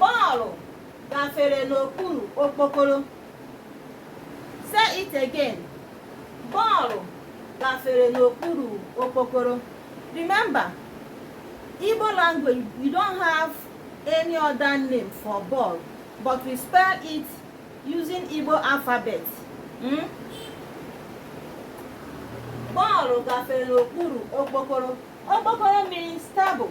Bọọlụ gafere n'okpuru okpokoro say it again bọọlụ gafere n'okpuru okpokoro remember Igbo language we don't have any other name for ball but we spell it using Igbo alphabet hmm? bọọlụ gafere n'okpuru okpokoro okpokoro means table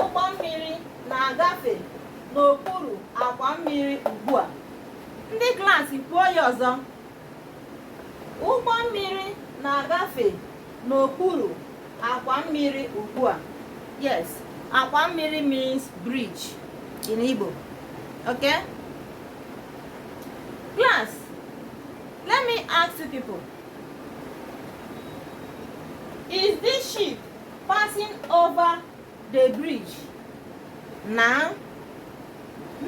Ụgbọ mmiri na-agafe n'okpuru akwa mmiri ugbu a. Ndị klaasị kwuo ya ọzọ. Ụgbọ mmiri na-agafe n'okpuru akwa mmiri ugbu a. Yes, akwa mmiri means bridge in Igbo. Okay? Class, let me ask you people. Is this ship passing over the bridge now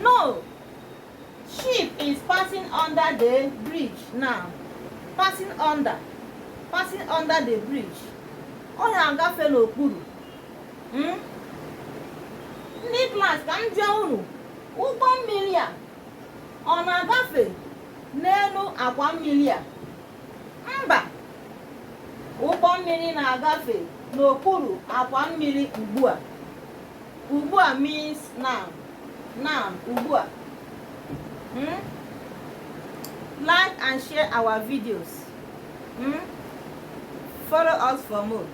no ship is passing under the bridge now passing under passing under the bridge ọ na-agafe n'okpuru hmm? ndị klas ka m jụọ unu ụgbọ mmiri a ọ na-agafe n'elu akwa mmiri a mba ụgbọ mmiri na-agafe n'okpuru akwa mmiri ugbu a ugbu a means now now ugbu a hmm? like and share our videos hmm? follow us for more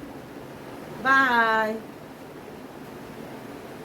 bye